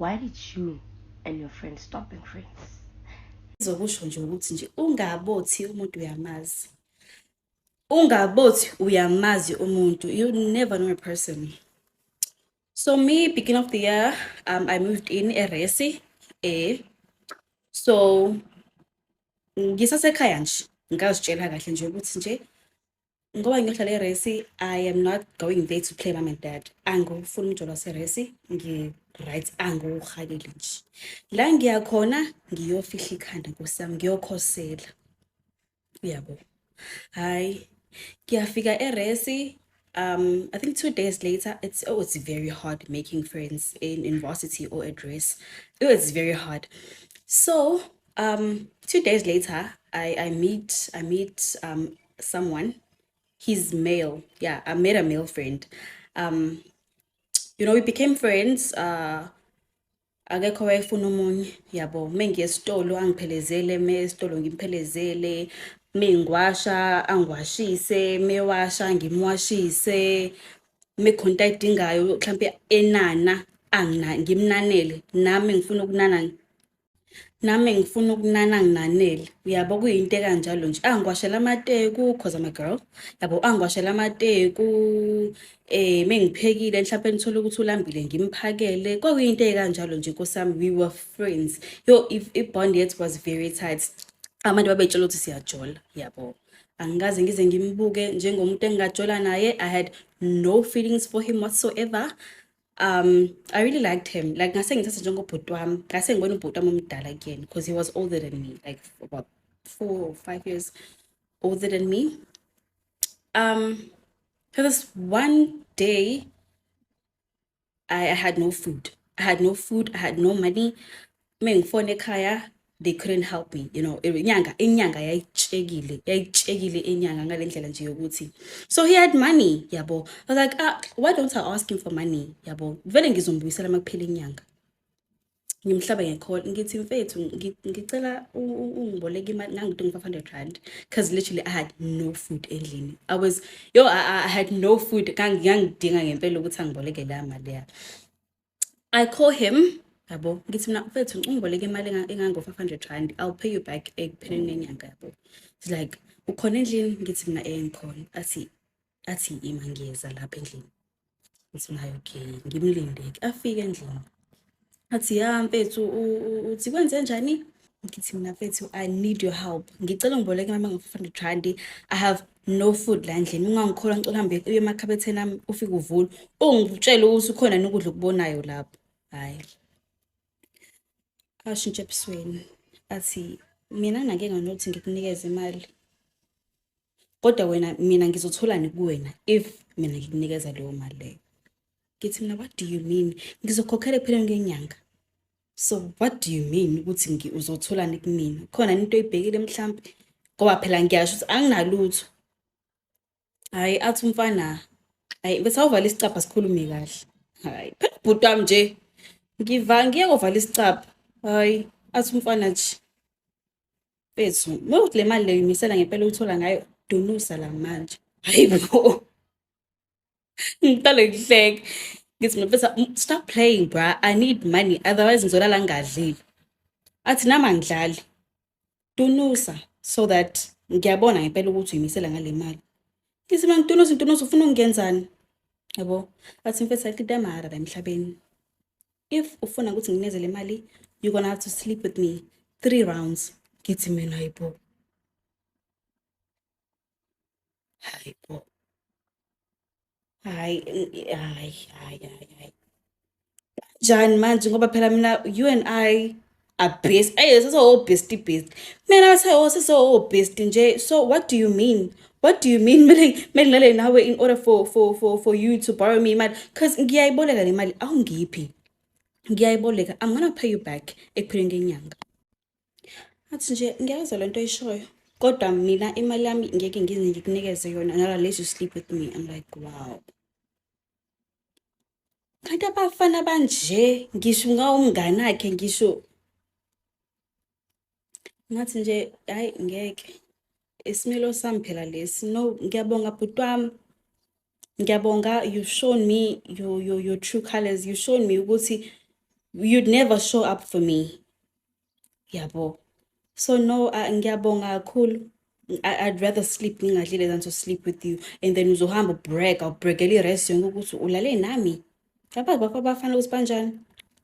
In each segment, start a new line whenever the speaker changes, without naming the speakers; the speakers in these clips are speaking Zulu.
Why did you and your friend stop being friends? Izokusho
nje ukuthi nje ungabothi umuntu uyamazi. Ungabothi uyamazi umuntu. You never know a person. So me, beginning of the year, um, I moved in Eresi. Eh. So ngisasekhaya nje ngazitshela kahle nje ukuthi nje ngoba ngiyodlala iresi i am not going there to play mom and dad angifuni umjolo waseresi ngi-right angiwuhaleli nje la ngiyakhona ngiyofihla ikhanda nkosi yami ngiyokhosela uyabo hhayi ngiyafika eresi um i think two days later it's oh it's very hard making friends in university or at race it was very hard so um two days later i i meet i meet um someone he's male yeah i met a male friend um you know we became friends uh akekho wayefuna omunye yabo uma ngiye esitolo angiphelezele uma esitolo ngimphelezele uma ngiwasha angiwashise uma ewasha ngimwashise uma khonta ayidingayo mhlawumpe enana angina ngimnanele nami ngifuna ukunana nami ngifuna ukunana nginanele uyabo kuyinto ekanjalo nje angiwashela amateku cause I'm a girl yabo angiwashela amateku eh mengiphekile mhlawumbe ngithola ukuthi ulambile ngimphakele kwakuyinto ekanjalo nje nkosami we were friends yo if i bond yet was very tight abantu babetshela ukuthi siyajola yabo angikaze ngize ngimbuke njengomuntu engingajola naye i had no feelings for him whatsoever um i really liked him like ngase ngithatha njengobhuti wami ngase ngibona ubhuti wami omdala kuyena because he was older than me like about four or five years older than me um so this one day I, I had no food i had no food i had no money uma ngifone ekhaya they couldn't help me you know inyanga inyanga yayitshekile yayitshekile inyanga ngale ndlela nje yokuthi so he had money yabo i was like ah, why don't i ask him for money yabo vele ngizombuyisela uma kuphela inyanga ngimhlaba ngekhona ngithi mfethu ngicela ungiboleka imali ngangidinga u-five hundred rand because literally i had no food endlini i was yo i, I had no food ngangidinga ngempela ukuthi angiboleke la mali ya i call him yabo ngithi mina mfethu ungiboleke imali engango-500 rand i'll pay you back ekupheleni nenyanga yabo it's like ukhona endlini ngithi mina eh ngikhona athi athi ima ngiyeza lapha endlini ngithi mina okay ngimlindeki afike endlini athi ya mfethu uthi kwenze njani ngithi mina mfethu i need your help ngicela ngiboleke imali engango-500 rand i have no food la ndlini ungangikhola ngicela hambe uye emakhabetheni ami ufike uvule ungitshele ukuthi ukhona nokudla okubonayo lapho hayi ashintshe ebusweni athi mina nake nganothi ngikunikeze imali kodwa wena mina ngizotholani kuwena if mina ngikunikeza leyo mali leyo ngithi mina what do you mean ngizokhokhela ekupheleni kwenyanga so what do you mean ukuthi ngi uzotholani kumina khona into oyibhekile mhlampe ngoba phela ngiyasho ukuthi anginalutho hayi athi umfana hayi bese awuvala isicabha sikhulume kahle hayi phela ubhuti wami nje ngiva ngiye kovala isicabha hayi athi umfana nje bethu uma uthi le mali leyo imisela ngempela uyithola ngayo dunusa la manje hayi bo ngiqale ngihleke ngithi mfethu stop playing bra i need money otherwise ngizolala ngingadlile athi nami angidlali tunusa so that ngiyabona ngempela ukuthi uyimisela ngale mali ngithi mina ngitunusa ngitunusa ufuna ukungenzani yabo athi mfethu ayikho into yamahara la emhlabeni if ufuna ukuthi nginezele imali you're gonna have to sleep with me three rounds ngithi mina yibo Hayi bo. Hayi hayi hayi hayi. Kanjani manje ngoba phela mina you and I are best. Hey sase o best best. Mina bese o sase o best nje. So what do you mean? What do you mean mele mele ngale nawe in order for for for for you to borrow me imali cuz ngiyayiboleka le mali awungiphi. Ngiyayiboleka I'm gonna pay you back ekupheleni kenyanga. athi nje ngiyazwa le nto oyishoyo kodwa mina imali yami ngeke ngize ngikunikeze yona nala lezi you sleep with me i'm like wow kanti abafana banje ngisho ngawumngane akhe ngisho ngathi nje hayi ngeke isimilo sami phela lesi no ngiyabonga bhuti wami ngiyabonga you shown me your, your, your true colors you shown me ukuthi you'd never show up for me yabo so no uh, ngiyabonga kakhulu I'd rather sleep ngingadlile than to sleep with you and then uzohamba ubreak awubrekele i-rest yonke ukuthi ulale nami abazi bakho abafana ukuthi banjani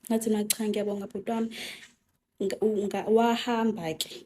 ngathi nacha ngiyabonga bhuti wami wahamba-ke